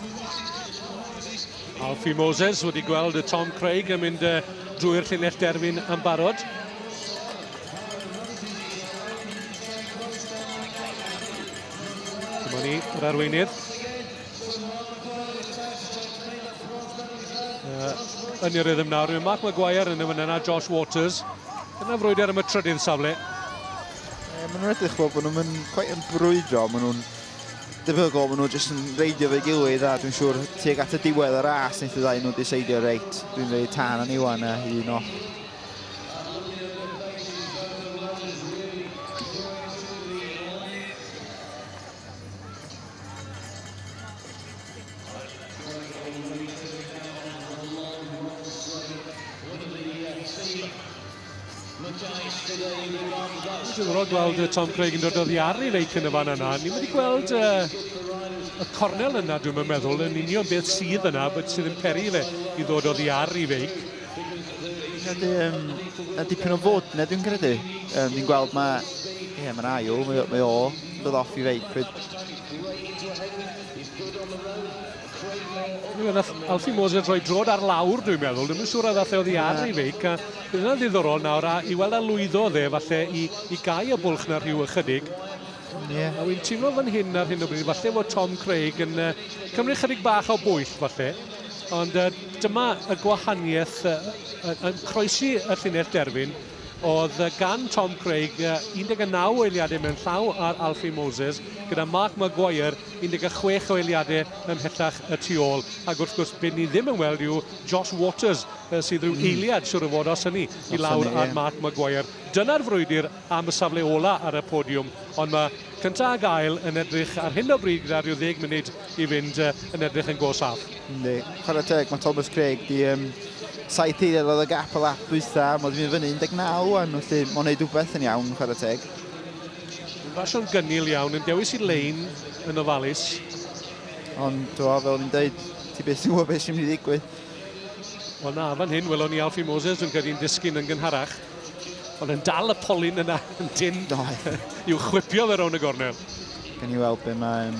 Alfie Moses wedi gweld y Tom Craig yn mynd uh, drwy'r llinell derfyn yn barod. Dyma ni, yr arweinydd. yn y rhythm nawr. Mae Mark Maguire yn y fan yna, Josh Waters. Dyna frwydr am y trydydd safle. Ie, maen nhw'n edrych fel bod nhw'n mynd cweit yn brwydro, maen nhw'n debygol, maen nhw'n jyst yn reidio fe gilydd a dwi'n siŵr tuag at y diwedd y ras wnaeth y ddau nhw diseidio reit, dwi'n rhoi tan yn Iwan a un o. Dwi'n gwybod gweld y Tom Craig yn dod o ddiar i feic yn y fan yna. Ni'n wedi gweld uh, y cornel yna, dwi'n meddwl, yn union beth sydd yna, beth sydd yn peri fe i ddod o ddiar i feic credu um, a dipyn o fod neu dwi'n credu. Um, ni'n gweld mae... Ie, yeah, mae'n ail, mae, mae o yn dod off i feic. Pryd... Dwi'n meddwl, Alfie Moses yn rhoi drod ar lawr, dwi'n meddwl. Dwi'n siŵr oedd allai oddi ar ei feic. A bydd yna'n ddiddorol nawr, a i weld a lwyddo dde, falle i, i gau y bwlch na rhyw ychydig. Yeah. A wy'n teimlo fan hyn ar hyn o bryd, falle fod Tom Craig yn uh, cymryd chydig bach o bwyll, falle. Ond uh, dyma y gwahaniaeth uh, uh, yn croesi y llinell derfyn oedd gan Tom Craig 19 eiliadau mewn llaw ar Alfie Moses gyda Mark Maguire 16 o eiliadau ymhellach y tu ôl. Ac wrth gwrs, beth ni ddim yn weld yw Josh Waters sydd rhyw hmm. eiliad siwr o fod os hynny i lawr ar Mark Maguire. Dyna'r frwydr am y safle ola ar y podiwm, ond mae cyntaf a gael yn edrych ar hyn o bryd gyda rhyw ddeg munud i fynd yn edrych yn go saff. Ynddi, chwarae teg, mae Thomas Craig di um, saith eiliad oedd y gap y lap dwytha, mae wedi mynd fyny 19 rwan, felly mae'n gwneud rhywbeth yn iawn, chwarae teg. Yn basio'n gynnil iawn, yn dewis i lein yn ofalus. Ond, to, fel o'n i'n dweud, ti beth sy'n gwybod beth sy'n mynd i ddigwydd. Wel na, fan hyn, welon ni Alfie Moses yn cael disgyn yn gynharach. Ond yn dal y polyn yna yn dyn i'w chwipio fe rown y gornel. Gan i weld beth mae um,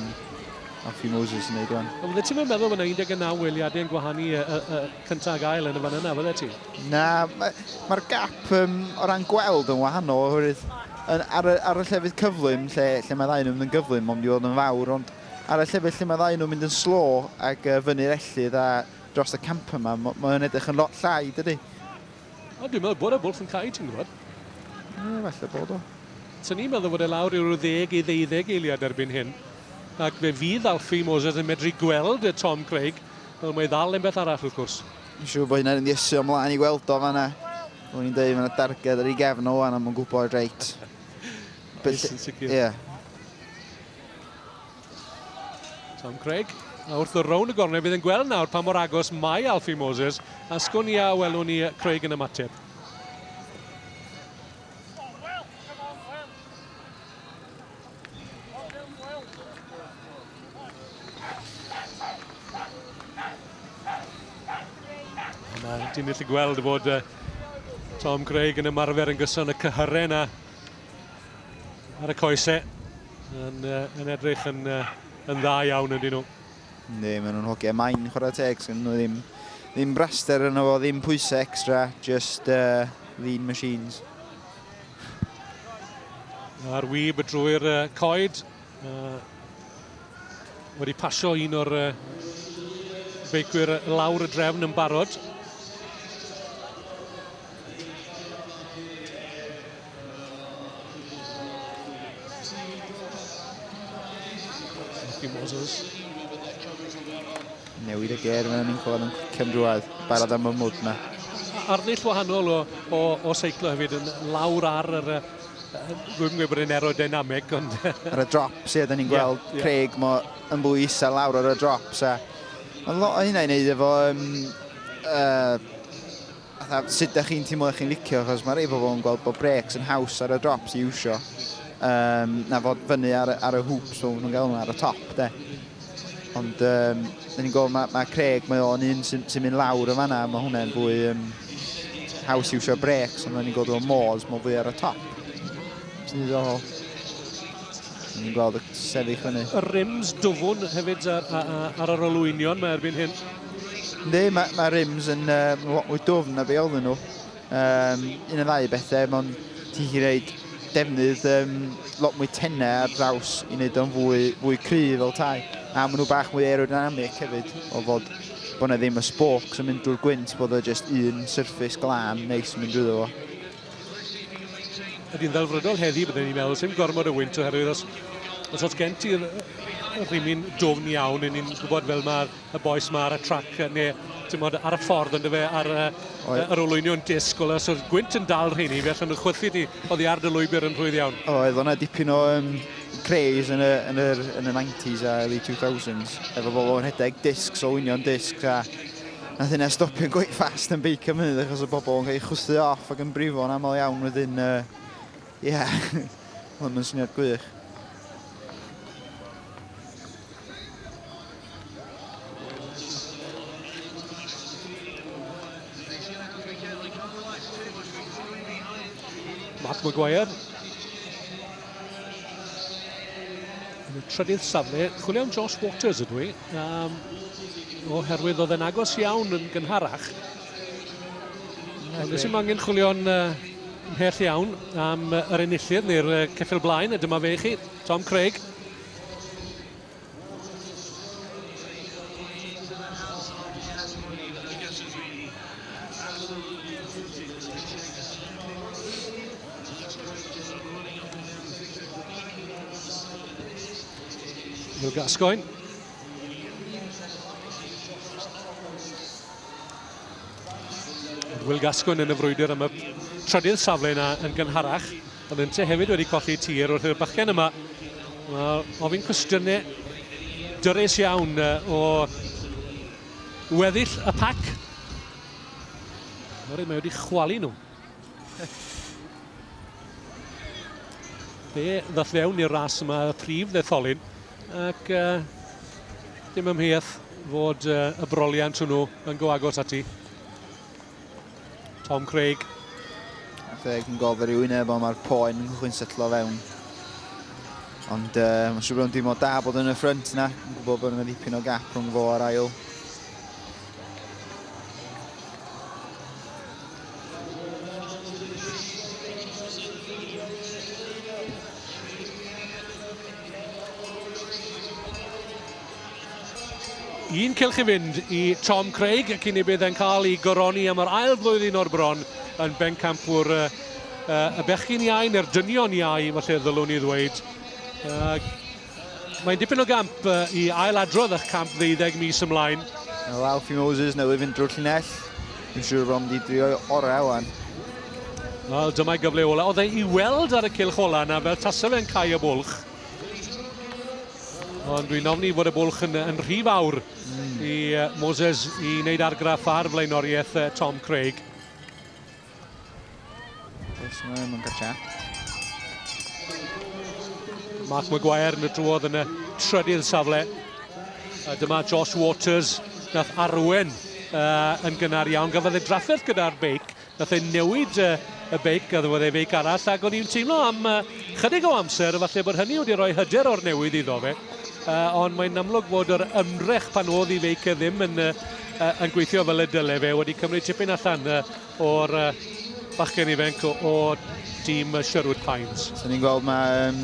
Alfie Moses yn neud o'n. Oedde ti'n meddwl bod yna 19 weliadau yn gwahanu y, y, y, cyntaf ag ail yn y fan yna, fydde ti? Na, mae'r ma gap um, o ran gweld yn wahanol, oherwydd yn, ar, y, ar y llefydd cyflym, lle, lle mae ddau nhw'n mynd yn gyflym, ond i fod yn fawr, ond ar y llefydd lle mae ddau nhw'n mynd yn slo ac uh, fyny'r ellydd a dros y camp yma, mae'n edrych yn lot llai, dydy? O, dwi'n meddwl bod y bwlch yn cael ei ti'n gwybod. Ie, falle bod o. Sa'n ni'n meddwl fod e lawr i'r ddeg i ddeuddeg eiliad erbyn hyn. Ac fe fydd Alfie Moses yn medru gweld y Tom Craig, fel mae ddal yn beth arall wrth gwrs. Yn siŵr bod hynna'n ddiesu o mlaen i weld o fanna. O'n i'n dweud fanna darged ar ei gefn o wan am yn gwybod reit. Oes yn sicr. Ie. Tom Craig, a wrth y rown y gornel fydd yn gweld nawr pa mor agos mae Alfie Moses, a sgwn i a welwn ni Craig yn ymateb. Mae ti'n gallu gweld bod uh, Tom Craig yn ymarfer yn gyson y cyhyren a ar y coesau. Yn, uh, yn edrych yn, uh, yn dda iawn ydyn nhw. Ynddi, maen nhw'n hogiau main chwarae teg, sy'n nhw ddim, ddim braster yna fo, ddim pwysau extra, just uh, lean machines. A'r wyb drwy'r uh, coed, uh, wedi pasio un o'r uh, beicwyr lawr y drefn yn barod. Newid y ger mewn un ffordd yn cwcem drwad. Barod am y mwd yma. Arddull wahanol o, o, o seiclo hefyd yn lawr ar yr uh, rwy'n gwybod bod yn aerodynamic, ond... Ar y drops, ie, da ni'n gweld yeah, yeah. Craig mo yn fwy isel lawr ar y drops, a... Mae'n lot o hynna i wneud efo um, uh, Fatha, sut da chi'n teimlo chi'n licio, achos mae rei pobl yn gweld bod breaks yn haws ar y drops i iwsio, um, na fod fyny ar, ar y hoops, fel nhw'n gael ar y top, de. Ond, um, da ni'n gweld, mae, mae Craig, mae o'n un sy'n sy mynd lawr yn fanna, mae hwnna'n fwy um, haws i iwsio breaks, ond da ni'n gweld o'n môs, mae'n fwy ar y top. Ti'n ddiddorol. Ni'n gweld y sefyll fyny. Y rims dwfwn hefyd ar, ar, ar yr olwynion mae erbyn hyn. Ynddi, mae ma rims yn um, lot mwy dwfn na be oedden nhw. Um, un o ddau bethau, mae'n ti'n chi reid defnydd um, lot mwy tenau ar draws i wneud o'n fwy, fwy cry fel tai. A maen nhw bach mwy aerodynamic hefyd, o fod bod yna ddim y spokes yn mynd drwy'r gwynt, bod o just un surface glân neis yn mynd drwy fo. Ydy'n ddelfrydol heddi, byddwn ni'n meddwl, sy'n gormod o wynt oherwydd os, os oes gen ti'r rhywun dwfn iawn, yn ni'n gwybod fel mae'r y boes yma ar y trac, neu tymod, ar y ffordd yn dyfe, ar uh, yr olwynion disg, o os oedd gwynt yn dal rheini, fe allan nhw chwythu ni o ddi ar dy lwybr yn rhwydd iawn. O, oedd o'na dipyn o um, craze yn y, yn, y, yn y 90s a early 2000s, efo bobl yn rhedeg disg, so olwynion disg, a na hynna stopio'n gweith fast yn beic am hynny, achos y bobl yn cael ei chwythu off ac yn brifo yn aml iawn wedyn, ie, uh, yeah. oedd yn syniad gwych. Mark Maguire. Yn y trydydd safle, chwilio am Josh Waters ydw i, um, oherwydd oedd e'n agos iawn yn gynharach. Ond nes i'n angen chwilio'n uh, mhell iawn am yr enillydd neu'r uh, ceffil blaen, a dyma fe i chi, Tom Craig. Wil Gascoigne. Wil Gascoigne yn y frwydr am y trydydd safle yna yn gynharach. Ond Inter hefyd wedi colli tir wrth i'r bachgen yma ofyn cwestiynau dyrus iawn o weddill y pac. Oherwydd mae wedi chwalu nhw. Fe ddoth fewn i'r ras yma y prif ddetholyn ac uh, dim ymheuaeth fod uh, y broliant hwnnw yn go agos ati. Tom Craig. Craig yn gofyn i wyneb ond mae'r poen yn chwy'n setlo fewn. Ond uh, mae'n siŵr bod yn dim o da bod yn y ffrynt yna. Yn gwybod bod yna ddipyn o gap rhwng fo ar ail. Un cylch i fynd i Tom Craig y cyn ei bydd e'n cael ei goroni am yr ail flwyddyn o'r bron yn bencampwr uh, uh, y bechgyn iau neu'r dynion iau, felly ddylwn i ddweud. Uh, Mae'n dipyn o gamp uh, i ail adrodd eich camp ddeuddeg mis ymlaen. Wel, Alfie Moses newydd fynd drwy'r llinell. Yn siŵr bod wedi drio orau o'n. Wel, dyma'i gyfle ola. Oedd ei i weld ar y cylch ola yna fel tasa fe'n cael y bwlch. Ond dwi'n ofni bod y bwlch yn, yn rhy fawr mm. i uh, Moses i wneud argraff ar flaenoriaeth uh, Tom Craig. Mark Maguire yn y drwodd yn y trydydd safle. A dyma Josh Waters, nath arwen uh, yn gynnar iawn. Gafodd ei drafferth gyda'r beic, Nath e newid y beic, a ddywedodd e feic arall, ac o'n i'n teimlo am chydig o amser, falle bod hynny wedi rhoi hyder o'r newydd iddo fe, ond mae'n amlwg bod yr ymdrech pan oedd i feic e ddim yn, yn gweithio fel y dyle fe, wedi cymryd tipyn allan o'r bachgen ifanc o, o tîm Sherwood Pines. So ni'n gweld mae... Um...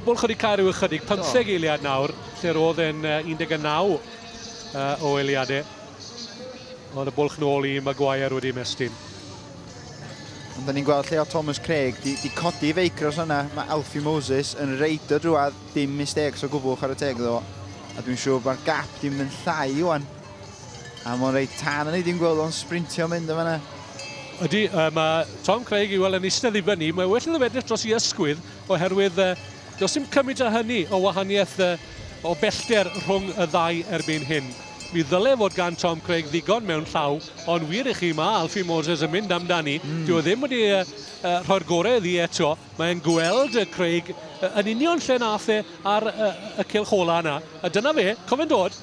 Bol chydig cael rhyw ychydig, pymtheg eiliad nawr, lle roedd e'n 19 o eiliadau. Ond y bwlch nôl i Maguire wedi ymestyn. Ond da ni'n gweld lle o Thomas Craig, di, di codi i feicros yna, mae Alfie Moses yn reid o drwad, dim mistakes o gwbl chwarae teg iddo fo. A dwi'n siŵr mae'r gap di mynd yn llai iwan. A mae'n reit tan yn ei ddim gweld o'n sprintio mynd o fanna. Ydy, uh, mae Tom Craig i weld yn eistedd i fyny, mae well iddo fedrych dros i ysgwydd, oherwydd uh, does dim cymryd â hynny o wahaniaeth uh, o bellter rhwng y ddau erbyn hyn. Mi ddyle fod gan Tom Craig ddigon mewn llaw, ond wir i chi, mae Alfie Moses yn mynd amdani. Mm. Dyw e ddim wedi uh, uh, rhoi'r gorau iddi eto. Mae'n gweld uh, Craig uh, yn union lle nath e ar uh, y cilch ola yna. A dyna fe, cofyn dod.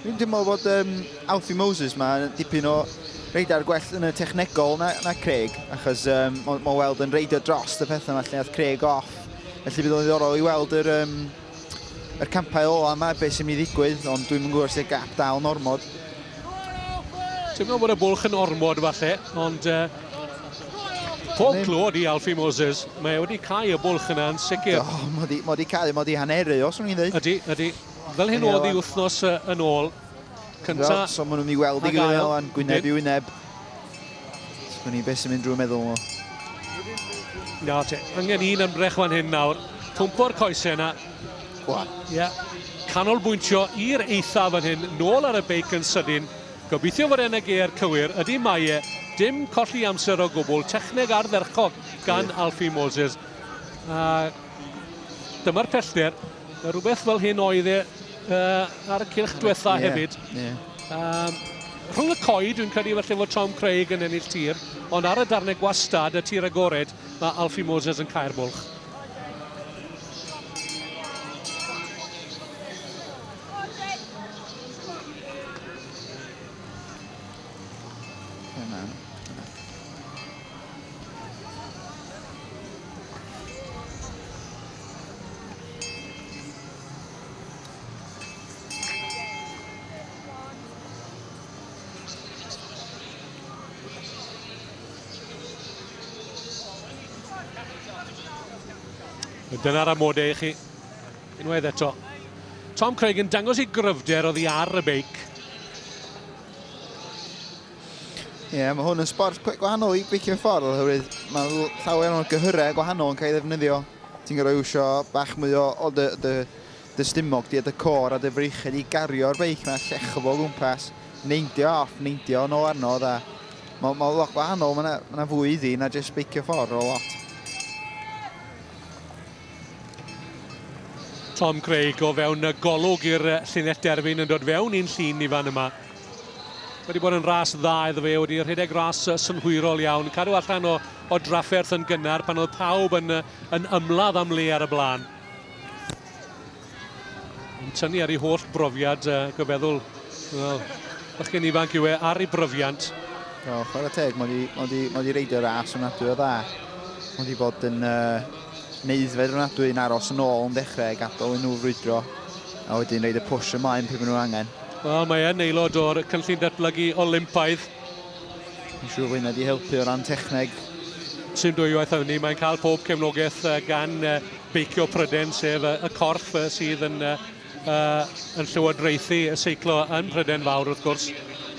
Dwi'n teimlo bod um, Alfie Moses ma dipyn o reidar gwell yn y technegol na, na Craig, achos um, mae'n ma weld yn reidio dros y pethau yma lle nath Craig off Felly bydd o'n ddiddorol i weld yr, um, yr campau ola yma, beth sy'n mynd i ddigwydd, ond dwi'n mynd gwybod sy'n gap dal yn ormod. Ti'n meddwl bod y bwlch yn ormod falle, ond uh, pob clod i Alfie Moses. Mae wedi cael y bwlch yna yn sicr. Do, mae wedi, ma wedi cael, mae wedi haneru os o'n i'n dweud. Ydy, ydy. Fel hyn oedd i wythnos uh, yn ôl. Cynta. So maen nhw'n mynd i weld i gilydd yna, gwyneb i wyneb. Sgwn i beth sy'n mynd drwy meddwl nhw. Na, te. Angen un ymdrech fan hyn nawr. Pwmpo'r coesau yna. Gwan. Ie. Yeah. Canolbwyntio i'r eitha fan hyn, nôl ar y beic yn sydyn. Gobeithio fod e'n y geir cywir. Ydy mae e. Dim colli amser o gwbl. Techneg ardderchog gan Alfie Moses. A dyma'r pellter. Mae rhywbeth fel hyn oedd e uh, ar y cylch diwetha yeah, hefyd. Yeah. Um, rhwng y coed, dwi'n credu felly fod Tom Craig yn ennill tir, ond ar y darnau gwastad, y tir agored, mae Alfie Moses yn cael bwlch. Dyna'r amodau i chi. Unwaith eto. Tom Craig yn dangos ei gryfder oddi ar y beic. Ie, yeah, mae hwn yn sport cweit gwahanol i beicio ffordd, oherwydd mae llawer o'n gyhyrau gwahanol yn cael ei ddefnyddio. Ti'n gorau iwsio bach mwy o, o dy, dy, dy stumog, di a dy cor a dy freichyd i gario'r beic na llechfo fo gwmpas, neindio off, neindio yn ôl arno, dda. Mae, mae lot gwahanol, mae yna, mae yna fwy iddi na jyst beicio ffordd o lot. Tom Craig o fewn y golwg i'r llinell derfyn yn dod fewn i'n llun ni fan yma. Wedi bod yn ras dda iddo fe, wedi rhedeg ras synhwyrol iawn, cadw allan o, o drafferth yn gynnar pan oedd pawb yn, yn ymladd am le ar y blaen. Yn tynnu ar ei holl brofiad, uh, gyfeddwl, well, bychyn ifanc yw e, ar ei bryfiant. O, chwarae teg, mae wedi, mae wedi, mae wedi reidio ras yn adwy o dda. Mae wedi bod yn uh, neu aeddfed ofnadwy yn aros yn ôl yn dechrau a gadael i nhw frwydro a wedyn roed y push ymlaen pryd maen nhw'n angen. Wel, mae e'n aelod o'r cynllun datblygu Olympaidd. Yn siŵr fod hynna wedi helpu o ran techneg. Sim dwywaith am hynny, mae'n cael pob cefnogaeth gan beicio Pryden, sef y corff sydd yn yn llywodraethu y seiclo yn Mhrydain Fawr wrth gwrs,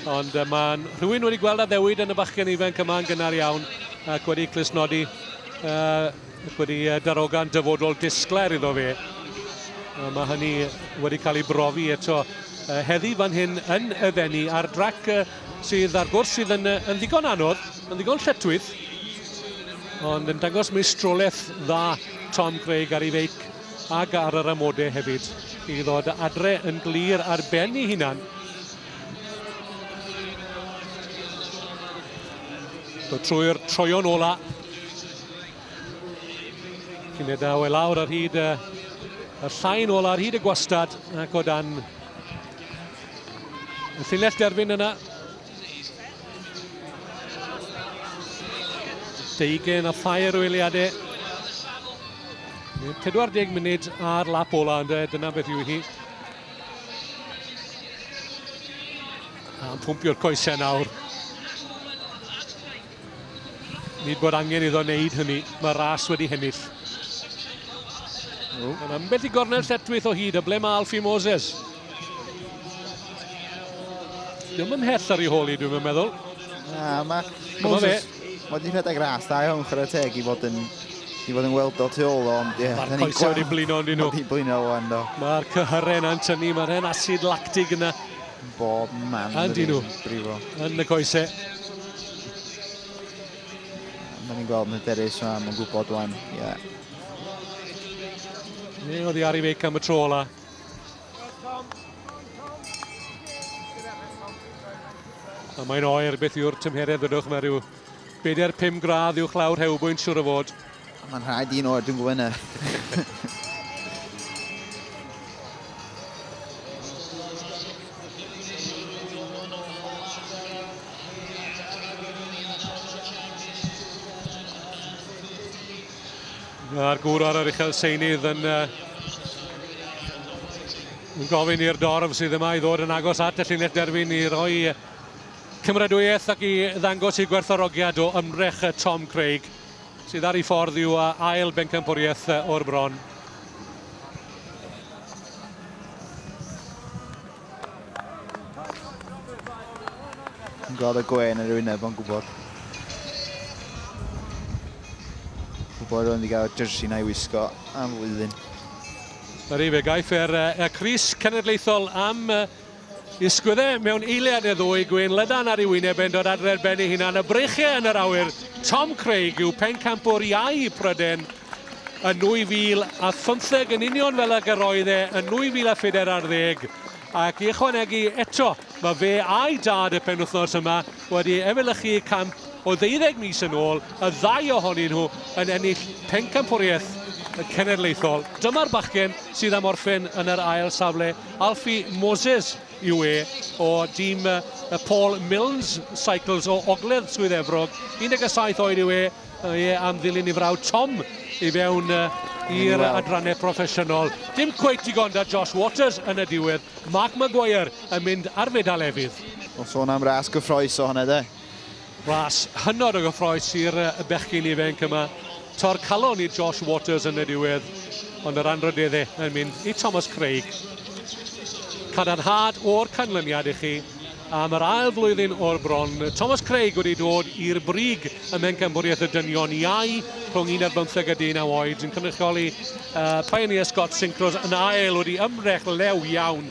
ond uh, mae'n rhywun wedi gweld addewid yn y bachgen ifanc yma yn gynnar iawn ac wedi clusnodi uh, ac wedi uh, darogan dyfodol disglair iddo fe. Uh, mae hynny wedi cael ei brofi eto uh, heddi fan hyn yn y ddenu ar drac uh, sydd ar gwrs sydd yn, uh, yn ddigon anodd, yn ddigon lletwyth, ond yn dangos meistrolaeth dda Tom Craig ar ei feic ag ar yr amodau hefyd i ddod adre yn glir ar ben ei hunan. So trwy'r troion ola. Cynedau e lawr ar hyd y, y llain ola, ar hyd y gwastad ac o dan y llinell derfyn yna Deugen a thair o eiliadau. 40 munud ar lap ola ynddo, dyna beth yw hi. A'n pwmpio'r coesau nawr. Nid bod angen iddo wneud hynny, mae Ras wedi hennill. Yn ambell i gornel lletwyth o hyd, y ble mae Alfie Moses. Ddim yn hell ar ei hôl i, dwi'n meddwl. Na, mae Moses... Mae wedi rhedeg ras, da iawn chwarae teg i fod yn i fod yn weld o tu ôl o, ond ie. Mae'r coesau wedi blino yn dyn nhw. Wedi blino o'n do. Mae'r cyhyrau yna'n tynnu, mae'r hen acid lactig yna. Bob man yn dyn nhw. Yn y coesau. Mae'n ni'n gweld Hyderus yma, mae'n gwybod wan. Yeah. Neu oedd i Ari Feic am y tro ola. A mae'n oer beth yw'r tymheredd ydwch, mae rhyw 4-5 gradd i'w chlawr hewbwynt siwr o fod. Mae'n rhaid un o'r dwi'n gwybod A'r gŵr ar yr uchel seinydd yn, uh, yn gofyn i'r dorf sydd yma i ddod yn agos at y llinell derfyn i roi cymeradwyaeth ac i ddangos i gwerthorogiad o ymdrech Tom Craig. sydd ar ei ffordd i'w ail bencampwriaeth o'r bron. Yn gweld y gwen yn rhywun nebo'n gwybod. Gwybod o'n i gael jersey na i wisgo am flwyddyn. Yr efe, gaiff er, er Cris Cenedlaethol am Ysgwydde mewn eiliad neu ddwy, gwên lydan ar ei wyneb e'n dod adre'r ben ei hunan, y breichiau yn yr awyr, Tom Craig yw pencampwr iau i Pryden yn 2015 yn union fel ag yr oedd e yn 2004 ar ddeg, ac i ychwanegu eto, mae fe a'i dad y penwythnos yma wedi efelychu camp o ddeuddeg mis yn ôl, y ddau ohonyn nhw yn ennill pencampwriaeth cenedlaethol. Dyma'r bachgen sydd am orffen yn yr ail safle. Alfie Moses yw e o dîm y Paul Milnes Cycles o Ogledd Swydd Efrog. 17 oed yw e, e am ddilyn ei frawd Tom i fewn i'r adrannau proffesiynol. Dim cweith digon da Josh Waters yn y diwedd. Mark Maguire yn mynd ar fedal efydd. Wel, sôn am ras gyffroes o hwnna de. Ras hynod o gyffroes i'r bechgyn ifainc yma. Tor calon i Josh Waters yn y diwedd, ond yr anrhydedd e yn mynd i Thomas Craig. Cadarnhad o'r canlyniad i chi am yr ail flwyddyn o'r bron. Thomas Craig wedi dod i'r brig ym Mhencampwriaeth y Dynion Iau rhwng 11 a 19 oed yn cynrychioli uh, Pioneer Scott Synchros yn ail wedi ymdrech lew iawn